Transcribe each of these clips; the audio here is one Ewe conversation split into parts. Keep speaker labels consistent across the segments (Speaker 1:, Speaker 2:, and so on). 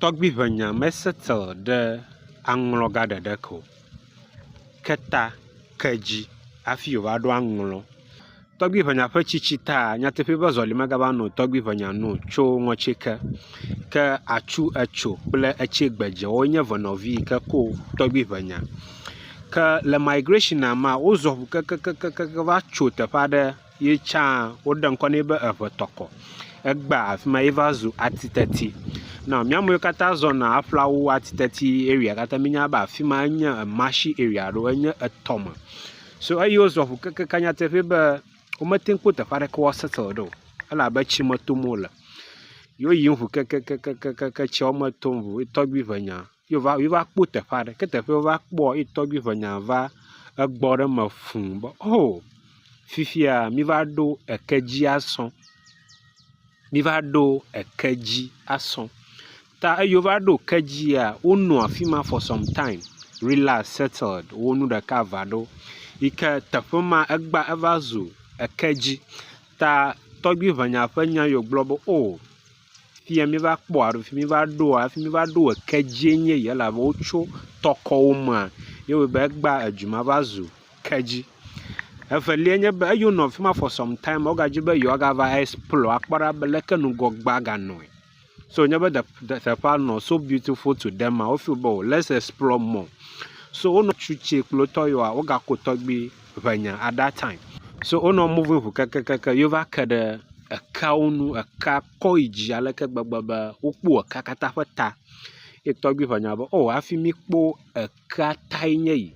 Speaker 1: Tɔgbiʋenya me settle ɖe aŋlɔ ga ɖeɖe ke o. Ke ta ke dzi hafi wòva ɖo aŋlɔ. Tɔgbiʋenya ƒe tsitsi taa, nyateƒee be zɔli megava no tɔgbiʋenya nu o tso ŋɔtsi ke. Ke atsu etso kple etsɛ gbedze woawo nye eve nɔvi yi ke ko tɔgbiʋenya. Ke le migration mea, wozɔ ŋu kekekekekekeŋ va tso teƒe aɖe. ye tsã woɖe ŋkɔ nɛ be eŋetɔkɔ. Egbea afi ma ye va zu atiteti. Nɔ mía amewo katã zɔna aƒlawo atiteti area katã míenya be afi ma enye ematsi area alo enye etɔ me. So eyi wozɔ ŋu kekeake nyateƒee be womete ŋu kpɔ teƒe aɖeke woaseteli ɖo o elabe tsi me tom wole. Ye woyiyim ŋu kekeakeke tsia me tom ŋu ye tɔgbi ŋe nya. ye wova ye wova kpɔ teƒe aɖe ke teƒe wova kpɔ ye tɔgbi ŋe nya va egbɔ ɖe eme fuu be o fifia miva ɖo eke dzi asɔ miva ɖo eke dzi asɔ ta eyi wova ɖo eke dzia wonɔ afi ma for some time relax settled wo nu ɖeka va ɖo yi ke teƒe ma egba eva zu eke dzi ta tɔgbi ŋe nya ƒe nya yi wogblɔ be o. Fi ya míva kpɔ alo fi míva ɖoa, fi míva ɖo eke dzie nye ya elabe wotso tɔkɔwo mea, ye wɔe be egba edu ma va zu ke dzi. Evelia nye be eyi wonɔ fi ma for some time ma, wogadi be yewoagava explore akpɔ ɖa be leke ŋgɔgbea ganɔe. So wònye be teƒea nɔ so beautiful to them ma, wo feel be o lets explore more. So wonɔ tsi tse kple wo tɔ yewoa, wogaku tɔgbui. ŋɛnya at that time. So wonɔ moving ŋu kekekeke ye wova ke ɖe ekeawo ŋu. Ekea kɔ yi dzi ale gbegbe be wokpɔ ekea katã ƒe ta. Ye tɔgbui ŋe nya be o hafi mi kpɔ ekea tae nye yi.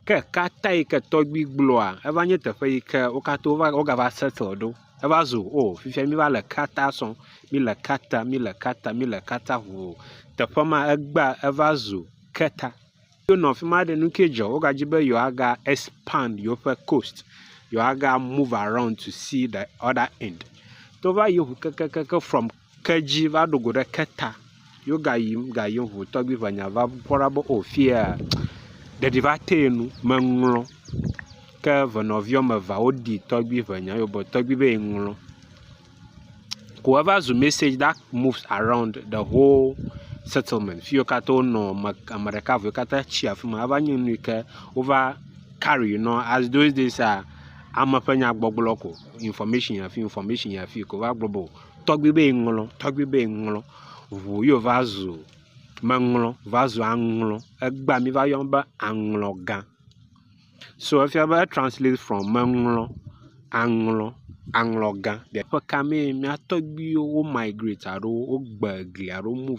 Speaker 1: Ke ekea ta yi ke tɔgbui gblɔa eva nye teƒe yi ke wo katã wova woga va settle ɖo. Eva zu o fifia mi va le ekea ta sɔm. Mi le ekea ta, mi le ekea ta, mi le ekea ta ŋu o. Teƒe ma egbea eva zu ke ta. Hafi wonɔ afi ma ɖe, nu kae dzɔ? Wogadi be yewoaga expand yewoƒe coast, yewoaga move around to see the other end. To va yiyim ŋu kekeake from kedzi va ɖo go ɖe keta ye wogayiyim gayiyim ŋu tɔgbi ŋenya va kpɔ ɖa be o fiya ɖeɖi va tee nu meŋlɔ. Ke evenɔvi woame evea wodi tɔgbi ŋenya ye wogblɔ be tɔgbi be yeŋlɔ. Whoever zu message that moves around the whole settlement fi wo katã wonɔ ame ame ɖeka vɔ wo katã tsi afi ma eva nye nu yi ke wova carry nɔ as those days ah ame ƒe nyagbɔgblɔ ko information yi afi information yi afi ko wova gblɔ be o tɔgbi be ŋlɔ tɔgbi be ŋlɔ ŋu ye wova zu meŋlɔ va zu aŋlɔ egbea mi va yɔm be aŋlɔga. So efia be etranslate from meŋlɔ, aŋlɔ, aŋlɔgã. Teƒe ka mee mía tɔgbuiwo wo migrate alo wogbe egli alo wo move.